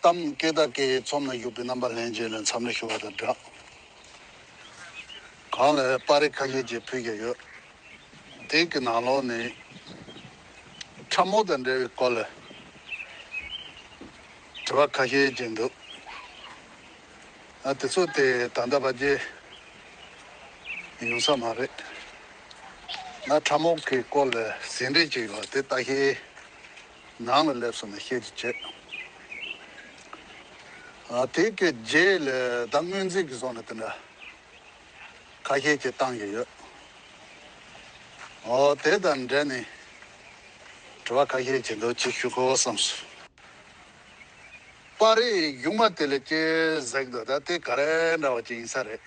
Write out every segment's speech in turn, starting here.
གཏམ་སྐད་བརྡ་སྐད་ཡིག་ཚོམ་ལ་གཞུག་པའི་རྣམ་པ་ལྷན་རྒྱས་ལས་མཚམས་རེ་ཞུ་བ་དང་སྦྲགས། གང་ལ་དཔའ་རིས་ཁ་ཉེ་ཅིག་ཕུལ་བཞིན་ཡོད། དེང་གི་ནང་ལོགས་ནི། ཁྲབ་མོ་དང་འབྲེལ་བའི་སྐོར་ལ། དྲི་བ་ཁ་ཤས་ཅིག་འདུག། དེ་ཚོ་དེ་ད་ལྟ་བར་རྗེས་ཡོང་ས་མ་རེད། ང་ཁྲབ་མོ་གི་སྐོར་ལ་ཟིན་བྲིས་ཅིག་ཡོད་པ་དེ་ལྟ་ཤེས། ནང་ལ་སླེབས་སོང་ནས་བཤད་རྒྱུ་བྱས། དེ་གའི་རྗེས་ལས་ད་སྔོན་རྩིས་ཀྱི་སོང་ནས་དེ་འདྲ་ཁ་ཤས་ཀྱིས་བཏང་གི་ཡོད། དེ་དང་འབྲེལ་ནས་དྲི་བ་ཁ་ཤས་བྱེད་འདོད་ཅིག་ཞུ་དགོས་བསམ་སོང། པར་རིས་གཞུང་མ་དེ་ལས་སྐྱེས་གཟེགས་འདུག་ད་དེ་ག་རེ་འདྲ་བ་ཅིག་ཡིན་ས་རེད།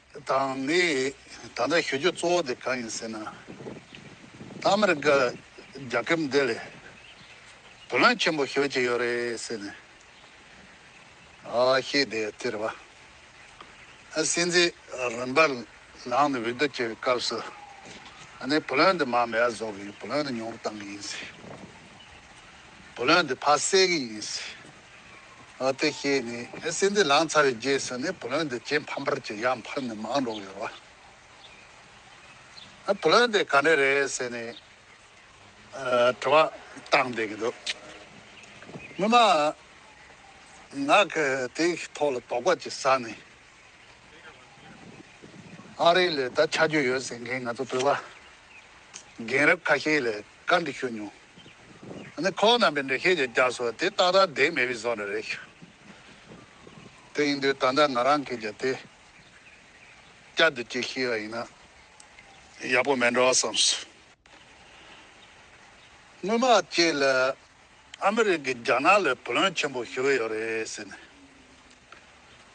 དང་ནི་ད་ལྟ་ཞུ་རྒྱུ་གཙོ་བོ་དེ་གང་ཡིན་ཟེར་ན། ཨ་མི་རི་ཀ་རྒྱ་ཁྱབ་འདི་ལས་བུ་ལོན་ཆེན་པོ་ཤོད་ཀྱི་ཡོད་རེད་ཟེར་ནས་བཤད་དེ་དེར་བ་སྲིད་འཛིན་རིམ་པར་ལངས་ནས་འོས་བསྡུ་བྱེད་པའི་སྐབས་སུ་ཨ་ནི་བུ་ལོན་དེ་མང་མེད་བཟོ་གི་ཡོད་བུ་ལོན་དེ་ཉུང་རུ་བཏང་གི་ཡིན་ཟེར་བུ་ལོན་དེ་ཕ་བསད་གི་ཡིན་ཟེར། དེ་ཤེས་ནས་སྲིན་དེ་ལངས་ཚར་བའི་རྗེས་སུ་ནི་བུ་ལོན་དེ་ཇེ་ཕམ་པར་གྱིས་ཡང་འཕར་ནས་མང་འགྲོ་གི་རོ། བུ་ལོན་དེ་ག་འདྲ་རེད་ཟེར་ནས་དྲི་བ་བཏང་བསྡད་ཀྱི་འདུག་སྔོན་མ་ང་གི་དེའི་ཐོག་ལ་དོགས་པ་ཅིག་ཟ་ནས་ཨ་རི་ལས་ད་ཆ་རྒྱུ་ཡོད་ཟེར་མཁན་ང་ཚོ་བོད་པ་རྒན་རབས་ཁ་ཤས་ལས་བཀའ་འདི་ཤོད་མྱོང། ཨ་ནི་ཁོ་བོ་རྣམས་པའི་འདྲེ་ཁྱེད་ཀྱི་སྐྱབས་སུ་དེ་རྟག་རྟག་དེ་མེད་པའི་བཟོ་འདྲ་རེད། དེ་ཡིན་དུས་ད་ལྟ་ང་རང་གིས་ཀྱང་དེ་སྐྱབས་དེ་བསྐྱེད་ཤེས་པ་ཡིན་ན་ཡག་པོ་མེད་འདྲ་བ་བསམས་སོ། སྔོན་མ་ཁྱེད་ལ་ཨ་མི་རི་ཀས་རྒྱ་ནག་ལ་བུ་ལོན་ཆེན་པོ་ཞུ་གི་ཡོད་རེད་ཟེར་ནས།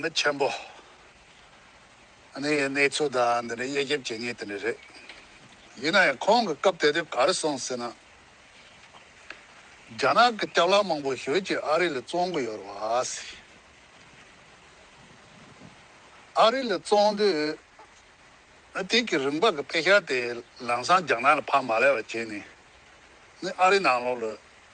མི་ཆེན་པོ། གནས་ཡས་གནས་ཚུལ་དང་འདི་འདྲའི་དབྱེ་ཞིབ་བྱེད་ངེས་དེ་འདྲ་རེད། ཡིན་ན་ཡང་ཁོང་གི་སྐབས་དེ་དུས་ག་རེ་སོང་ཟེར་ན། རྒྱ་ནག་གི་སྐྱག་ལག་མང་པོ་ཞོལ་གྱི་ཨ་རི་ལ་བཙོང་གི་ཡོད་རེད་བ། ཨ་རི་ལ་བཙོང་དུས་དེ་གི་རིང་པ་གི་དཔེ་ཤར་དེ་ལམ་སང་རྒྱ་ནག་ལ་ཕ་མ་ལས་བ་བྱས་ནས་ནི་ཨ་རི་ནང་ལོགས་ལ་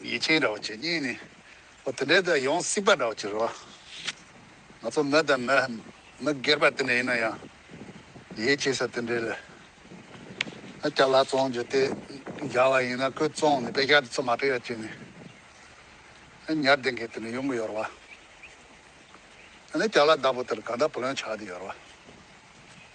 ཡིད་ཆེས་འདྲ་བོ་བྱེད་ཉིན་ནི། འོ་དེ་འདྲའི་དང་ཡོང་སྲིད་པ་འདྲ་བོ་བྱེད་རོགས། ང་ཚོ་མི་དང་མི། མི་སྒེར་པ་དེ་འདྲ་ཡིན་ན་ཡང། ཡིད་ཆེས་ས་དེ་འདྲའི་ལ། ཨ་ཀྱཱ་ལ་བཙོང་རྒྱུ་དེ་འདྲ་བ་ཡིན་ན་ཁོས་བཙོང་ནས་དཔེ་ཆ་དེ་ཚོ་མ་སྤྲོད་ཡ་བྱས་ནས། ཨ་ཉར་དེ་འགས་དེ་འདྲ་ཡོང་གི་ཡོད་རོགས། ཨ་ནི་ཀྱཱ་ལ་བདག་པོ་དེར་གང་འདྲ་བུ་ལོན་ཆགས་ཀྱི་ཡོད་རོགས།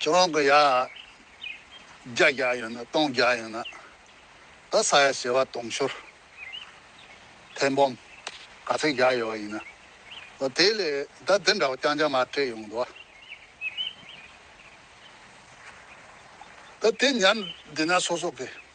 ཁྱེད་རང་གི་ཡ། བརྒྱ་བརྒྱ་ཡོད་ན་སྟོང་བརྒྱ་ཡོད་ན། ད་ས་ཡ་བྱེ་བ་སྟོང་ཤོར། ཐེར་འབུམ། ག་ཚད་བརྒྱ་ཡོད་ཡིན་ན། ཨོ་དེ་ལས་ད་འདི་འདྲ་བ་རྐྱང་རྐྱང་མ་སྤྲད་ཡོང་འདུག་ཨ། ད་དེ་ཉར་འདི་ན་སོ་སོ་གི།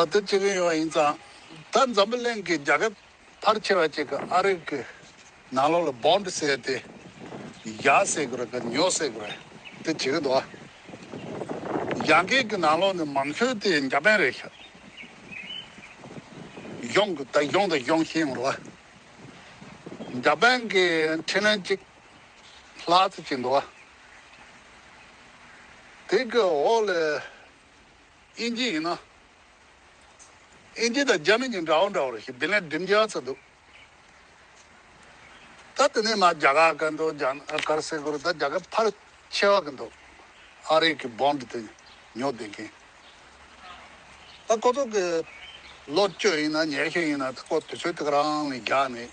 ཨ་ཏི་ཅི་གི་ཡོང་ཡིན་ཙང་ད་འཛམ་བུ་གླིང་གི་རྒྱ་ཁབ་ཕར་ཆེ་བ་ཅིག་གི་ཨ་རིག་གི་ནང་ལོག་ལ་བོམ་བསད་དེ་ཡག་བསད་གི་རེད་གི་ཉོག་བསད་གི་རེད་དེ་ཇི་གི་འདུག་ཨ་རྒྱ་འགེལ་གི་ནང་ལོག་ནས་མང་ཤོས་དེ་འཇ་པན་རེད་ཤག་གཞོང་གི་ད་གཞོང་ད་གཞོང་ཤེས་ཡོང་རོག་ཨ་འཇ་པན་གི་འཕྲིན་ལན་ཅིག་ལྷག་ཙི་ཅིག་འདུག་ཨ། དེ་གི་འོག་ལས་དབྱིན་ཇི་ཡིན་ན། དབྱིན་ཇི་དང་རྒྱ་མི་གཉིས་འདྲ་བོ་འདྲ་བོར་ཤིག་བདེ་ལེགས་འགྲིམ་རྒྱག་ཚར་འདུག་ད་དེ་ནས་མ་རྒྱ་གར་ག་འདུག་རྒྱ་ནག་གར་སེ་གོར་ད་རྒྱ་གར་ཕར་ཆེ་བ་གི་འདུག་ཨ་རིག་གི Bond དེ་ཉོ་བསྡད་མཁན་ད་ཁོ་ཚོ་གི་ལོ་བཅོས་ཡིན་ན་ཉེས་ཤེས་ཡིན་ན་ད་ཁོ་དེ་ཚོའི་ཐུགས་རང་ནས་རྒྱག་ནས་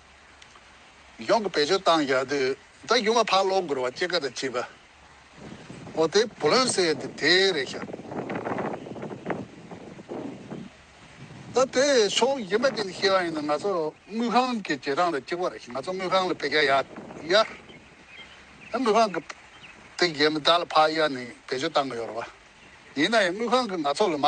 ཡོངས་ཀྱི་བེད་སྤྱོད་བཏང་བཞག་དུས་ད་ཡུ་མ་ཕག་ལོག་འགུར་བ་སྐྱེ་ག་དང་བཅས་པ་འོ་དེ་བུ་ལོན་བསད་དེ་དེ་རེད་ཤག་ད་དེ་ཕྱོགས་ཡིན་པ་དེ་ནི་ཤེས་བ་ཡིན་ན་ང་ཚོ་དངུལ་ཁང་གི་རྗེས་འབྲང་ལ་གཅིག་པ་རེད་ཤག་ང་ཚོ་དངུལ་ཁང་ལ་བེད་སྐྱ་ཡག་ཡག་ད་དངུལ་ཁང་གི་དེ་རྗེས་མི་དག་ལ་ཕག་གཡར་ནས་བེད་སྤྱོད་བཏང་གི་ཡོད་རེད་བ་ཡིན་ན་ཡང་དངུལ་ཁང་གི་ང་ཚོ་ལ་མ་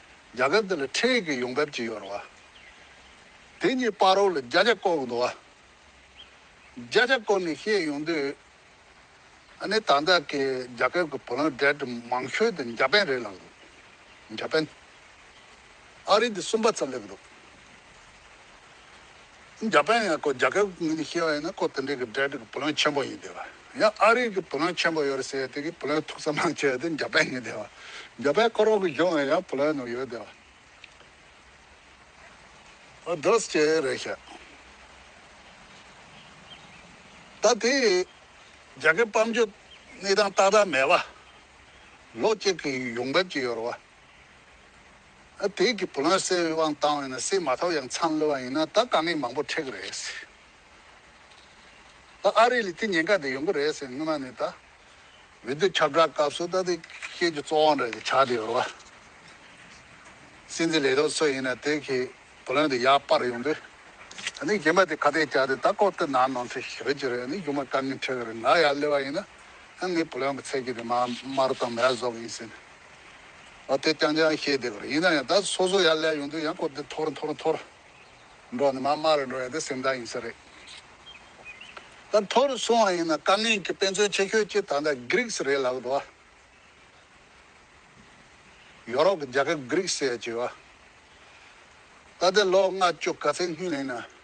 རྒྱ་གར་འདི་ལ་ཁྲེལ་གྱི་ཡོང་འབབ་ཅི་ཡོད་རོགས་ཨ། དེ་གཉིས་སྤར་རོགས་ལ་བརྒྱ་ཆ་བསྐོར་འདུག་ཨ། བརྒྱ་ཆ་བསྐོར་ནས་བཤད་ཡོང་དུས། ཨ་ནི་ད་ལྟ་གི་རྒྱ་གར་གྱི་བུ་ལང་བསྒྲལ་དུ་མང་ཤོས་དེ་འཇའ་པན་རེད་ལབ་འདུག་འཇའ་པན་ཨ་རི་དེ་གསུམ་པ་ཙམ་སླེབས་འདུག། རྒྱ་པན་ཡང་ཀོ་རྒྱ་སྐད་ཀྱི་ངོས་ནས་བཤད་པ་ཡིན་ན་ཀོ་དེ་འདྲའི་གི་སྒྲའི་དྲི་གི་བུ་ལོན་ཆེན་པོ་ཡིན་དེ་བ། ཡང་ཨ་རིག་གི་བུ་ལོན་ཆེན་པོ་ཡོད་རེད་ཟེར་དེ་གི་བུ་ལོན་ཐུག་ས་མང་ཆེ་བ་དེ་རྒྱ་པན་ཡིན་དེ་བ། རྒྱ་པན་ཀོ་རོག་གི་གཞུང་ལ་ཡང་བུ་ལོན་ནོ་ཡོད་དེ་བ། ཨོ་དོ་ས་ཅེ་རེད་ཤག། ད་དེ་རྒྱ་སྐད་སྤམ་རྒྱུ་གནས་སྟངས་ཏག་ཏག་མེད་བ། ལོ་གཅིག་གི་ཡོང་འབབ་ཅིག་ཡོད་རེད་བ། བོད་ཀྱི་བུ་ལོན་སེལ་བའི་དབང་བཏང་བས་ན་སེལ་མ་ཐོབ་ཡང་མཚམས་ལོས་པ་ཡིན་ན་ད་དཀའ་ངལ་མང་པོ་འཕྲད་གི་རེད། ད་ཨ་རི་ལས་དེ་ཉེན་ཁ་དེ་ཡོང་གི་རེད་ཟེར་སྔོན་མ་ནས་ད་འོས་བསྡུ་ཁྱབ་བསྒྲགས་སྐབས་སུ་ད་དེ་ཁྱེད་ཀྱི་གཙོ་བོ་འདྲ་དེ་ཆགས་དེ་ཡོད་རེད། སྲིད་འཛིན་ལས་རོགས་ཚོ་ཡིན་ན་དེ་གི་བུ་ལོན་དེ་ཡར་སྤར་ཡོང་དུས་ཨ་ནི་གཞན་པ་དེ་ཁ་གཏད་བཅག་དེ་ད་ལྐོག་ཏུ་ནང་ནང་ཚེ་ཞི་རུ་གྱུར་རེད་ཨ་ནི་རྒྱུ་མ་དཀའ་ངལ་འཕྲད་གི་རེད་ང་ཡར་ལོས་པ་ཡིན་ན་ང་ངའི་བུ་ལོན་གྱི་ཚད་ཀྱི་དེ་མ་དམར་དང་མ་ཡར་བཟོ་གི་ཡིན་ཟེར་ནས། དེ་རྐྱང་རྐྱང་བཤད་བསྡད་པ་རེད་ཡིན་ན་ཡང་ད་སོ་སོ་ཡར་ལས་ཡོང་དུས་ཡང་སྐོར་དེ་འཐོར་འཐོར་འཐོར་འགྲོ་ནི་མ་དམའ་རེ་འགྲོ་ཡང་དེ་སེམས་ཐག་ཡིན་ས་རེད། ད་འཐོར་སོང་བ་ཡིན་ན་དཀའ་ངལ་གྱི་དཔེ་མཚོན་ཆེ་ཤོས་གཅིག་ད་ལྟ Greeks རེད་ལབ་འགྲོ། ཡོ་རོབ་ཀྱི་རྒྱལ་ཁབ Greeks ཟེར་བ། ད་དེ་ལོ་ལྔ་བཅུ་ག་ཚད་སྔུན་ཡིན་ན་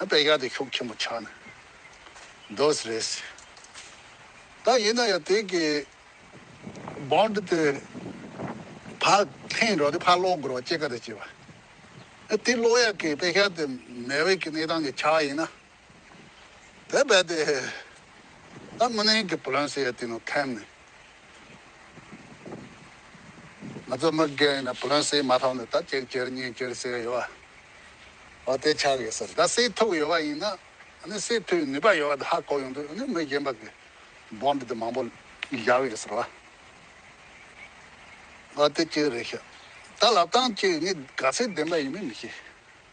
དཔེ་རྒྱག་དེ་ཤོག་ཆེན་པོ་ཆགས་ནས་འདོད་རེད་ཟེར། ད་ཡིན་ན་ཡང་དེ་གི Bond དེ་ཕར་འཐེན་རོགས་དེ་ཕར་སློག་དགོས་རོགས་ཅེས་ཀ་རེ་བྱས་པ། དེ་སློག་ཡག་གི་དཔེ་ཤར་དེ་མེ་འོད་ཀི་གནས་སྟངས་ཀི་ཆགས་ཡིན་ན། དེ་རྦད་དེ་ད་མི་ནས་ཀི་བུ་རང་ཟེར་ཡ་དེ་ནང་འཐེན་ནས་ང་ཚོ་མི་སྒེར་ཡིན་ན་བོན་སྲིད་མ་ཐོག་ནས་ད་གཅིག་གྱུར་གཉིས་གྱུར་ཟེར་གི་ཡོད་པ་དེ་ཆགས་གི་སོང་ད་སྲིད་ཐུག་ཡོད་པ་ཡིན་ན་སྲིད་ཐུག་ནུས་པ་ཡོད་པ་དེ་ཧ་གོ་ཡོང་དུས་མི་གཞན་པ་གི་སྦོམ་དེ་མང་པོ་བཞག་ཡོད་ཟེར་བ་དེ་གཅིག་རེད་ཤག་ད་ལབ་སྟངས་གཅིག་ངས་ག་ཚོད་བདེན་པ་ཡིན་མིན་མི་ཤེས།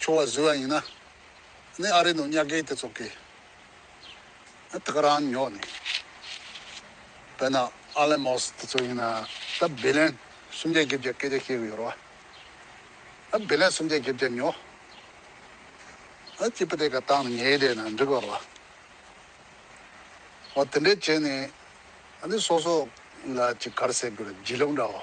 ཆུ་བ་བཟོས་བ་ཡིན་ན་ནི་ཨ་རི་ནང་གཉའ་ཁེལ་དེ་ཚོ་གིས་ཐག་རང་ཉོག་ནས་བོད་ནང་ཨ་ལན་མོ་སི་དེ་ཚོ་ཡིན་ན་ད་བི་ལན་སུམ་བརྒྱ་བརྒྱད་བརྒྱ་སྐད་ཆ་བཤད་གི་ཡོད་རོ། ཨ་བི་ལན་སུམ་བརྒྱ་བརྒྱད་བརྒྱ་ཉོག་ཨ་སྐྱིད་པ་དེ་ག་བཏང་ནས་ཉལ་བསྡད་ན་འགྲིག་ག་རོ། འོ་དེ་འདྲས་བྱས་ནས་ཨ་ནི་སོ་སོ་ལ་ཅིག་གར་སེ་གུ་ར་བརྗིད་ལོབ་འདྲ་བོ།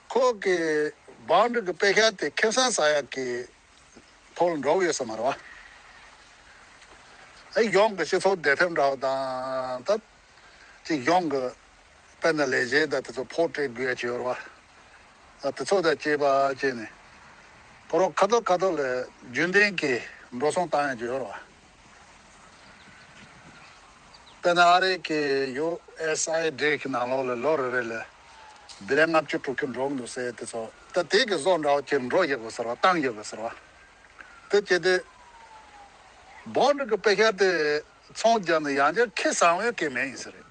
ཁོག་གི་བང་མཛོད་ཀྱི་དཔེ་ཤ་དེ་ཁེམ་སང་ས་ཡག་གི་ཐོག་ལ་འགྲོ་གི་ཡོད་ས་མ་རེད་བ། ཨེ་གཞུང་གི་སྤྱི་ཚོགས་བདེ་ཐེབས་འདྲ་བ་དང་ད་ཅི་གཞུང་གི་དཔེ་ན་ལས་བྱེད་དང་དེ་ཚོ་ཕོག་སྤྲད་དགོས་ཡ་བྱས་ཡོད་རེད་བ། དེ་ཚོ་དང་བཅས་པ་བཅས་ནས་ཕོ་རོག་ཁ་ཐོར་ཁ་ཐོར་ལ་རྒྱུན་ལྡན་གྱི་འགྲོ་སོང་བཏང་ཡ་བྱས་ཡོད་རེད་བ། དཔེར་ན་ཨ་རིའི་གི USA འདྲེ་གི་ནང་ལོགས་ལ་ལོ་རེ་རེ་ལ་སྡེ་ལས་ལྔ་བཅུ་དྲུག་ཅུ་འགྲོ་གི་འདུག་ཟེར་དེ་ཚོ་ད་དེ་གི་བཟོ་འདྲ་བ་ཁྱེར་འགྲོ་ཡོད་དགོས་ཟེར་བ་བཏང་ཡོད་དགོས་ཟེར་བ་དེ་ཁྱེད་དེ་བོད་འབྲུག་གི་དཔེ་ཤར་དེ་ཚོང་རྒྱག་ནས་ཡང་བསྐྱར་ཁེ་བཟང་བའི་གེགས་མེད་ཡིན་ཟེར་རེད།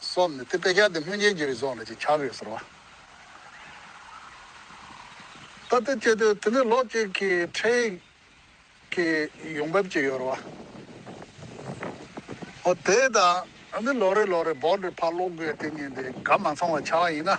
སོགས་ནི་དེ་དཔེ་ཆ་འདི་སྔོན་ཅན་གྱི་རིགས་སོགས་ལ་ཅིག་ཆར་རེ་ཟེར་བ། ད་ལྟའི་དཔྱད་དོན་དེ་ནི་ལོག་སྤྱོད་ཀྱི་ཁྲིད་ཡིག་གི་ཡོང་འབབ་ཅིག་ཡོད་རེ་བ། འོ་དེས་ད་ནི་ལོ་རེ་ལོ་རེ་བོར་འདིར་ཕར་ལོག་དགོས་དེ་ཉིན་དེ་ག་མ་ཚང་བ་ཆགས་ཡིན་ན།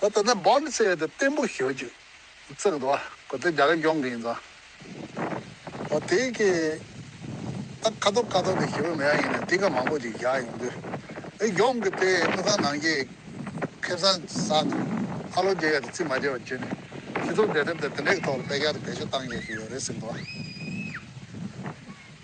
ད་ལྟ་ནི་བོད་མི་ཚོས་དེ་བརྟན་པོ་ཞུ་རྒྱུ་བརྩི་གི་འདུག་བ་གོ་དེ་རྒྱ་གར་ཡོང་གི་ཡིན་ཙང། ཨོ་དེ་གི་ད་ཁ་ཐོར་ཁ་ཐོར་དེ་ཞུ་གི་མེད་ཡ་ཡིན་ན་དེ་ག་མང་པོ་ཅིག་བཞག་ཡོང་དུས་དེ་ཡོང་གི་དེ་དངུལ་ཁང་ནང་གི་ཁེ་བཟང་ཟ་འདུག་ཨ་ལོ་རྒྱལ་ཡོད་དེ་རྩིས་མ་བྱས་པ་བརྒྱུད་ནས་སྤྱི་ཚོགས་འབྲེལ་གྲབས་དེ་དེ་འདྲའི་གི་ཐོག་ལ་སྤེལ་ག་དེ་བེད་སྤྱོད་བཏང་ཡོད་ཀྱི་ཡོད་རེད་ཟེར་གི་འདུག་བ།